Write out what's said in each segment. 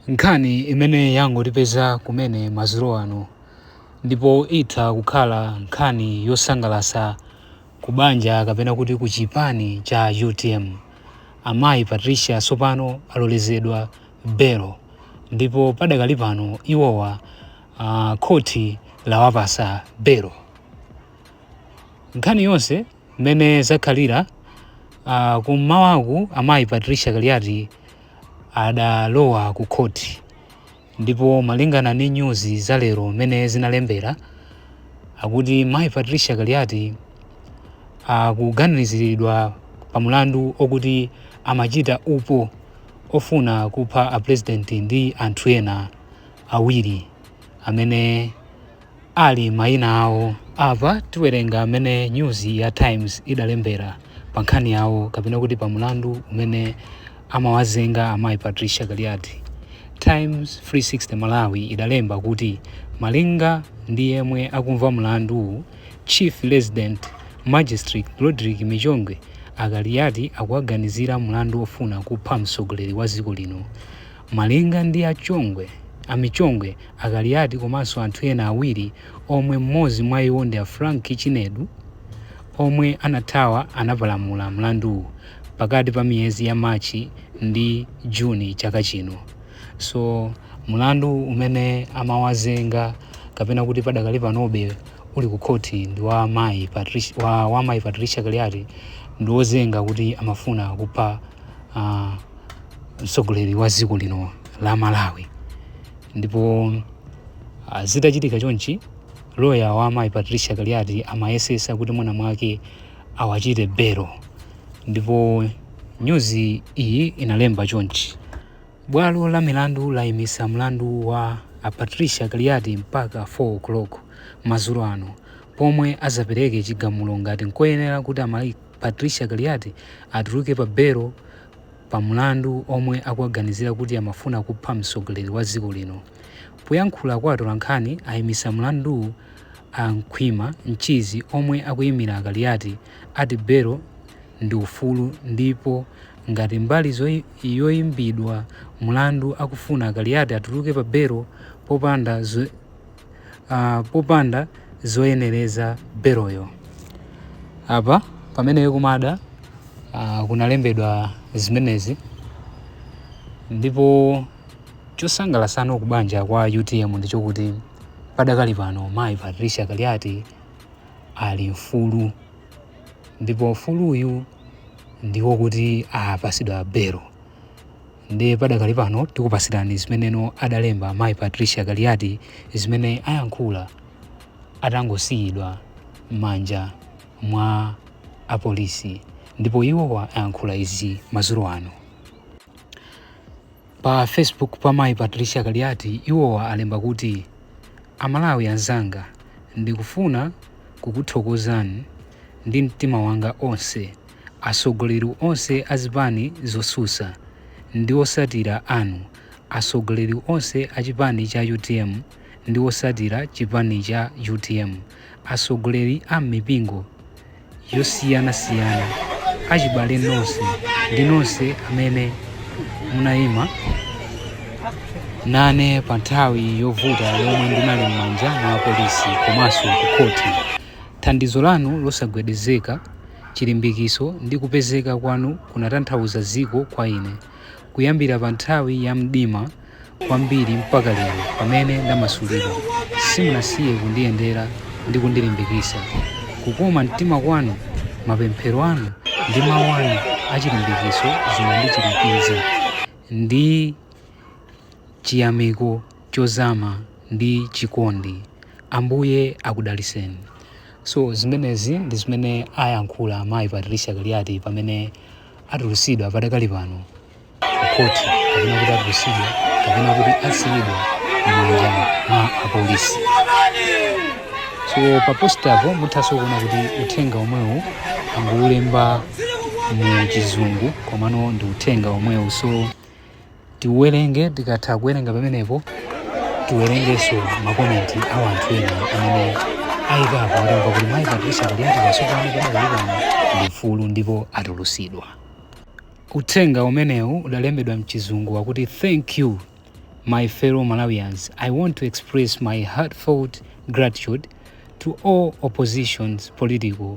Nkhani imene yangotipeza kumene madzulo ano ndipo itha kukhala nkhani yosangalasa ku banja kapena kuti ku chipani cha UTM. Amayi Patricia tsopano alolezedwa belo ndipo padakali pano iwowa a khothi lawapasa belo. Nkhani yonse. Mmene zakhalira uh, kummawaku amayi Patricia Kaliati adalowa ku khoti ndipo malingana ndi nyuzi za lero mmene zinalembera akuti mayi Patricia Kaliati akuganiziridwa uh, pa mulandu okuti amachita upo ofuna kupha a president ndi anthu ena awiri amene ali mayina awo. Apa tiwerenga mmene nyuzi ya Times idalembera pa nkhani yawo kapena kuti pa mlandu umene amawazenga amayi Patricia Kaliati. Times 360 Malawi idalemba kuti malinga ndi yemwe akumva mlanduwu, Chief Resident Magistrate Rodrick Michongwe, a Kaliati akuwaganizira mlandu ofuna kupha mtsogoleri wa dziko lino, Malinga ndi a Chongwe, a Michongwe, a Kaliati komanso anthu ena awiri omwe m'modzi mwa iwo ndi a Frank Chinedu omwe anathawa anapalamula mlanduwu pakati pa miyezi ya March ndi June chaka chino. So mlandu umene amawazenga kapena kuti padakali panobe uli ku khothi ndi wa mayi Patricia, wa, wa mayi Patricia Kaliati ndi ozenga kuti amafuna kupha uh, mtsogoleri wa dziko lino la Malawi ndipo uh, zitachitika chonchi loya wa amayi Patricia Kaliati amayesesa kuti mwina mwake awachite belo ndipo nyuzi iyi inalemba chonchi bwalo la milandu layimisa mlandu wa a Patricia Kaliati mpaka 4 o'clock madzulo ano pomwe azapereke chigamulo ngati nkoyenera kuti amayi Patricia Kaliati atuluke pa belo pa mlandu omwe akuwaganizira kuti amafuna kupha mtsogoleri wa dziko lino. Poyankhula kwa atolankhani ayimitsa mlanduwu a Khwima Mchizi omwe akuyimira a Kaliati ati belo ndi ufulu ndipo ngati mbali yoyimbidwa mlandu akufuna a Kaliati atuluke pa belo popanda uh, popanda zoyenereza beloyo apa pamene kumada uh, kunalembedwa zimenezi ndipo chosangalasa no kubanja kwa UTM ndichokuti padakali pano mayi Patricia Kaliati ali mfulu ndipo mfuluyu ndi wokuti apasidwa belo Ndiye padakali pano tikupatsirani zimene adalemba mayi Patricia Kaliati zimene ayankhula atangosiyidwa m'manja mwa apolisi ndipo iwowa ayankhula izi madzulo ano. Pa Facebook pa mayi Patricia Kaliati iwowa alemba kuti, Amalawi anzanga, ndikufuna kukuthokozani ndi mtima wanga onse. Atsogoleri onse a zipani zotsutsa ndi otsatira anu, atsogoleri onse a chipani cha utm ndi otsatira chipani cha utm, atsogoleri a m'mipingo yosiyanasiyana, achibale nonse ndi nonse amene munayima nane pa nthawi yovuta yomwe ndinali m'manja mwa apolisi komanso ku khoti. Thandizo lanu losagwedezeka chilimbikitso ndi kupezeka kwanu kunatanthauza dziko kwa ine, kuyambira pa nthawi ya mdima kwambiri mpaka lero pamene ndamasulidwa. Simunasiye kundiyendera ndi kundilimbikitsa. Kukoma mtima kwanu, mapemphero anu, ndi mawu anu achilimbikitso zinandichirikiza ndi chiyamiko. chozama ndi chikondi. Ambuye akudaliseni. So zimenezi ndi zimene ayankhula mayi Patricia Kaliati pamene atulusidwa padakali pano ku khoti kapena kuti atulusidwa kapena kuti asiyidwa m'manja mwa apolisi. So pa postipo muthanso kuona kuti uthenga omwewu anguulemba mu chizungu komano ndi uthenga omwewu so tiuwerenge tikatha kuwerenga pamenepo tiwerengenso makomenti a wanthu ena amene ayikapo atamva kuti mayi patricia kaliati tsopano padakali pano ndi mfulu ndipo atulusidwa uthenga umenewu udalembedwa mchizungu wakuti thank you my fellow malawians i want to express my heartfelt gratitude to all oppositions political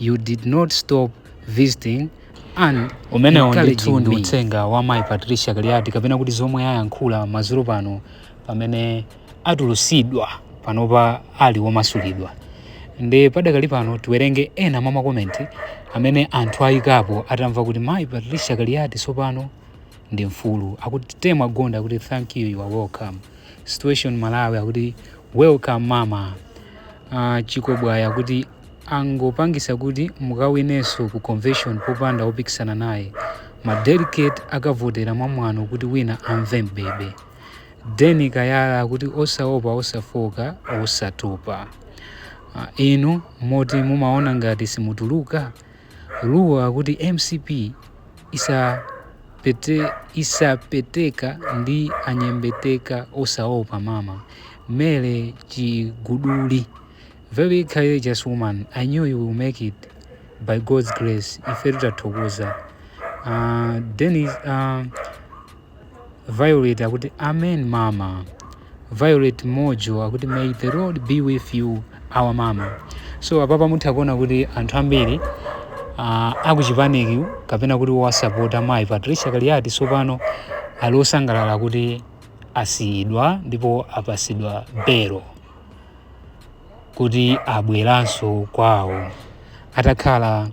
You did not stop visiting and umenewo ndithu ndi uthenga wa mayi Patricia Kaliati kapena kuti zomwe ayankhula madzulo pano pamene atulusidwa panopa ali womasulidwa nde padakali pano tiwerenge ena mwa makomenti amene anthu ayikapo atamva kuti mayi Patricia Kaliati tsopano ndi mfulu akuti temwa gonda akuti thank you you are welcome situation Malawi akuti welcome mama uh, ah, chikobwaya akuti Angopangisa kuti mukawinenso ku convention popanda opikisana naye. Ma delegate akavotera mwa mwano kuti wina amve m'bebe. Dennis Kayala akuti osaopa osafooka osatopa. Ah inu moti mumaona ngati simutuluka? Luwa akuti MCP isa pete isapeteka ndi anyembeteka osaopa mama. Mary Chiguduli. Very courageous woman I knew you will make it by God's grace ifetu tathokoza uh, Dennis, uh, Violet akuti amen mama Violet Mojo akuti may the Lord be with you our mama so apapa mutha kuona kuti anthu ambiri uh, akuchipaniki kapena kuti osapota mayi Patricia Kaliati sopano ali osangalala kuti asiyidwa ndipo apasidwa belo kuti abweranso kwawo atakhala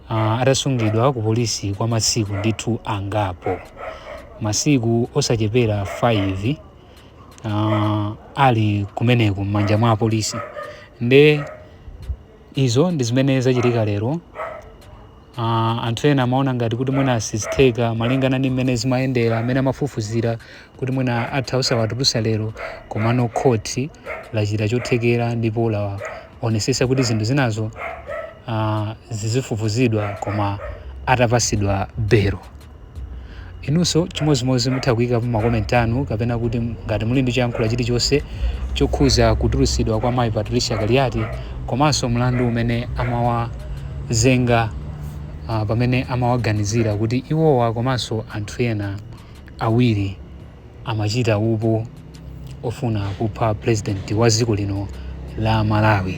uh, atasungidwa ku polisi kwa masiku ndithu angapo masiku osachepera 5 uh, ali kumeneko m'manja mwa apolisi nde izo ndi zimene zachitika lero Uh, anthu ena amaona ngati kuti mwina sizitheka malingana ndi mmene zimayendera mmene amafufuzira kuti mwina atha osawatulusa lero komano khoti lachita chothekera ndipo laonesesa kuti zinthu zinazo uh, zizifufuzidwa koma atapasidwa belo Inunso chimodzimodzi mutha kuyikapo ma comment anu kapena kuti ngati muli ndi choyankhula chilichonse chokhuza kutulutsidwa kwa mayi Patricia Kaliati komanso mlandu umene amawazenga ah, pamene amawaganizira kuti iwowa komanso anthu ena awiri amachita upo ofuna kupha president wa dziko lino la Malawi.